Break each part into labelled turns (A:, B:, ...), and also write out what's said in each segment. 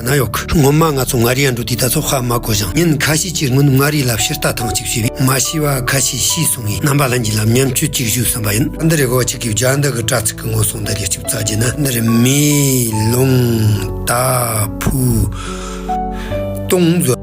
A: ན་ཡོག་སྔོན་མ་ང་ཚོ་མངའ་རིས་ཡ་འབྲུག་འདི་ད་ཚོ་ཧ་མ་གོ་ཞིང་ཉིན་ཁ་ཤས་ཀྱི་སྔོན་མངའ་རིས་ལབ་ཤེར་ལྟ་ཐང་གཅིག་བྱས་པས་མ་ཤི་བ་ཁ་ཤས་ཤི་སོང་ངས་རྣམ་པ་ལྷན་གྱི་ལམ་མཉམ་སྤྱོད་ཅིག་ཞུ་བསམ་པ་ཡིན། འདི་རེ་གོ་ཅིག་གིས་བརྒྱ་འདི་གི་དྲ་ཚིག་གི་ངོ་སོང་ད་རེ་གཅིག་བཙལ་རྒྱུ་ན་འདི་རེ་མེ་ལོང་ད་ཕུ་སྟོང།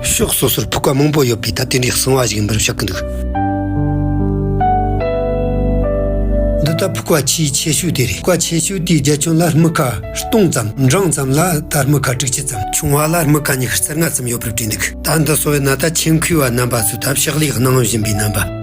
A: ཕྱོགས་སོ་སོར་ཕུག་པ་མང་པོ་ཡོད་པས་ད་དེ་འདྲའི་གསང་བ་ཞིག་ཡིན་པར་ཤོད་ཀྱི་འདུག། འདི་ལྟར་ཕུག་པ་ཆེས་ཆེ་ཤོས་དེ་རེད། ཕུག་པ་ཆེ་ཤོས་དེའི་རྒྱ་ཁྱོན་ལ་རྨི་ཁ་སྟོང་ཙམ། འབྲིང་ཙམ་ལ་ད་རྨི་ཁ་དྲུག་ཅུ་ཙམ། ཆུང་བ་ལ་རྨི་ཁ་ཉི་ཤུ་རྩ་ལྔ་ཙམ་ཡོད་པར་བྲིས་འདུག། ད་འདི་གསོ་བའི་ནཱ་ད་ཆེན་ཁུལ་བ་རྣམ་པ་ཚོས་ད་ཕྱག་ལས་གནང་བཞིན་པའི་རྣམ་པ།